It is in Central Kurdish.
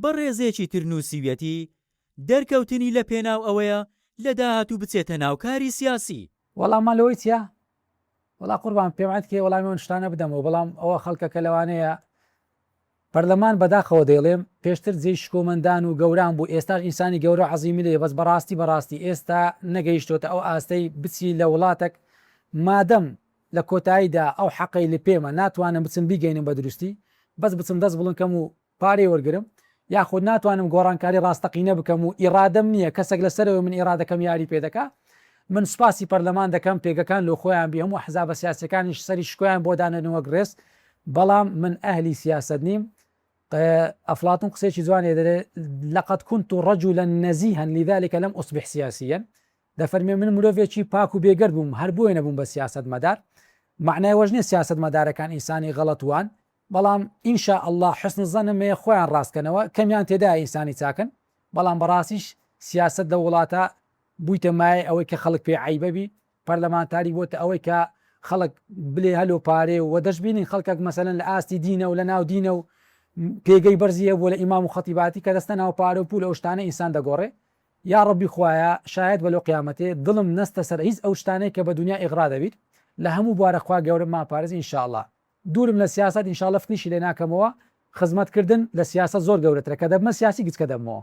بەڕێزێکی تر نووسیویەتی، دەرکەوتنی لە پێناو ئەوەیە لە داهاتوو بچێتە ناو کاری سیاسی. وەڵاممان لەوەی چیە؟ وەڵا قوربان پێم عەتکەی وەڵامی ئەو شتانە بدەمەوە بەڵام ئەوە خەڵکەکە لەوانەیە پەرلەمان بەداخەوە دەیڵێم پێشتر جێی شکۆمەندان و گەوران بوو ئێستاش ئینسانی گەورەو عەزیمی لێیە بەس بەڕاستی بەڕاستی ئێستا نەگەیشتۆتە ئەو ئاستەی بچی لە وڵاتەک مادەم لە کۆتاییدا ئەو حەقەی لپێمە ناتوانم بچم بیگەینم بە دروستی بەس بچم دەست بڵند کەم و پارەی وەرگرم یاخود ناتوانم گۆڕانکاری ڕاستەقینە بکەم و ئیڕادەم نیە کەسەک لە سەرەوەی من ئیڕادەکەم یاری پێ دەکا من سوپاسی پەرلەمان دەکەم پێگەکان لۆ خۆیان بی هەموو ئەحزابە سیاسیەکانیش سەری شکۆیان بۆ دانێن وەک ڕێز بەڵام من ئەهلی سیاسەت نیم ئەفڵاتون قسەیەکی جوانێ دەرێ لقد كنت رجلا نزیها لذلك لم اصبح سیاسیا دەفەرمێ من مرۆڤێکی پاک و بێگەرد بووم هەر بۆیە نەبووم بە سیاسەتمەدار، مەعنای ئەوەش نیە سیاسەتمەدارەکان ئینسانی غەڵەت وان، بەڵام ان شاء اللە حسن الظنم هەیە خۆیان ڕاست کەنەوە، کەمیان تێدایە ئینسانی چاکن، بەڵام بەڕاستیش سیاسەت لەو وڵاتە بوویتە مایەی ئەوەی کە خەڵک پێی عەیبە بی، پەرلەمانتاری بۆتە ئەوەی کە خەڵک بلێ هەلۆ پارێ و دەشبینین خەڵکەک مەسەلەن لە ئاستی دینە و لە ناو دینە و پێگەی بەرزی هەبووە لە ئیمام و خەتیباتی کە دەستە ناو پارە و پول ئەو شتانە ئینسان دەگۆڕێ یاڕەبی خوایە شایەت بە لۆ قیامەتێ دڵم نەستە سەر هیچ ئەو شتانەی کە بە دونیا ئیغرا دەبیت لە هەموو بوارە خوا گەورە ما پارێز ان شاءاللە دوورم لە سیاسەت ان شاءاللە فکریشی لێ ناکەمەوە خزمەت کردن لە سیاسەت زۆر گەورەترە کە دەبمە سیاسی گچکە دەبمەوە.